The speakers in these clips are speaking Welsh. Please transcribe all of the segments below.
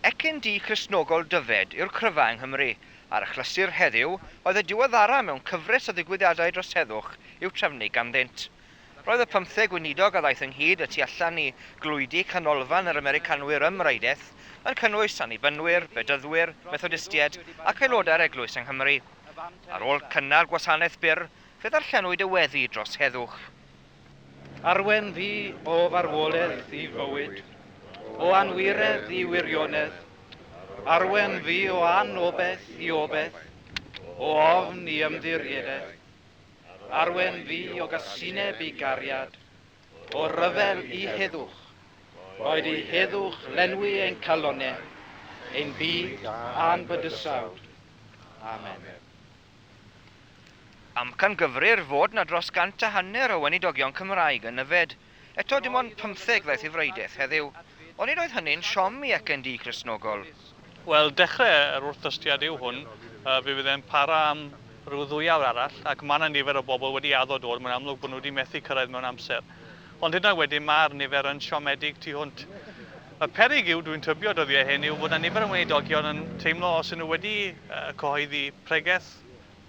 Ecyn du Cristnogol Dyfed yw'r cryfau yng Nghymru, a'r achlysur heddiw oedd y diweddara mewn cyfres o ddigwyddiadau dros heddwch i'w trefnu ganddynt. Roedd y pymtheg weinidog a ddaeth ynghyd y tu allan i glwydi canolfan yr Americanwyr ym Mrydedd yn cynnwys Annibynwyr, Bedyddwyr, Methodistiaid ac aelodau'r Eglwys yng Nghymru. Ar ôl cynnar gwasanaeth byr, fe ddarllenwyd y weddi dros heddwch. Arwain fi o farwolaeth i fywyd, o anwiredd i wirionedd, arwain fi o anobaith i obaith, o ofn i ymddiriedaeth. Arwain fi o gasineb i gariad, o ryfel i heddwch, boed i heddwch lenwi ein calonnau, ein byd a'n bydysawd. Amen. Amcangyfrif fod 'na dros gant a hanner o weinidogion Cymraeg yn yfed. Eto, dim ond pymtheg ddaeth i Wraideith heddiw. Onid oedd hynny'n siom i acen du Cristnogol? Wel, dechrau yr wrthdystiad yw hwn. Fe fydd e'n para am ryw ddwy awr arall, ac mae 'na nifer o bobl wedi addo dod, mae'n amlwg bod nhw wedi methu cyrraedd mewn amser. Ond hyd yn oed wedyn mae'r nifer yn siomedig tu hwnt. Y peryg yw, dwi'n tybio, dyddiau hyn, yw fod yna nifer yn weinidogion yn teimlo os ydyn nhw wedi cyhoeddi pregeth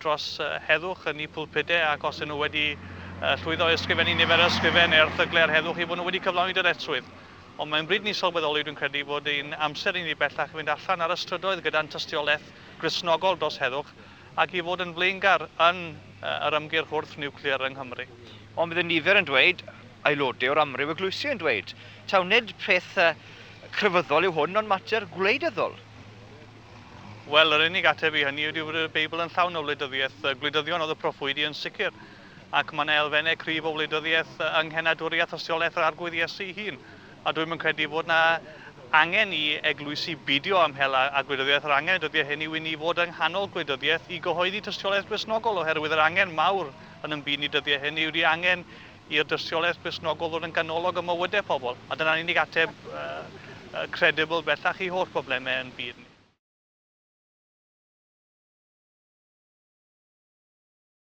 dros heddwch yn eu pulpudau ac os ydyn nhw wedi llwyddo i ysgrifennu nifer o ysgrifen neu erthyglau ar heddwch eu bod nhw wedi cyflawni dyretrwydd. Ond mae'n bryd i ni sylweddoli, dwi'n credu, fod ein amser i ni bellach yn mynd allan ar y strydoedd gyda'n tystiolaeth Gristnogol dros heddwch ac i fod yn flaengar yn yr ymgyrch wrth niwclear yng Nghymru. Ond bydd y nifer yn dweud, aelodau o'r amryw eglwysi yn dweud, taw nid peth crefyddol yw hwn ond mater gwleidyddol. Wel, yr unig ateb i hynny ydy bod y Beibl yn llawn o wleidyddiaeth. Gwleidyddion oedd y proffwydi yn sicr, ac mae yna elfennau cryf o wleidyddiaeth yng nghenadwriaeth thystiolaeth yr Arglwydd Iesu ei hun. A dwi'm yn credu fod 'na angen i eglwysi bidio am hel a a gwleidyddiaeth, yr angen y dyddiau hyn yw i ni fod yng nghanol gwleidyddiaeth i gyhoeddi tystiolaeth Gristnogol, oherwydd yr angen mawr yn yn byd ni dyddiau hyn yw ydi angen i'r dystiolaeth Gristnogol ddod yn ganolog ym mywydau pobl, a dyna'r unig ateb yy yy credibl bellach i holl broblemau yn byd ni.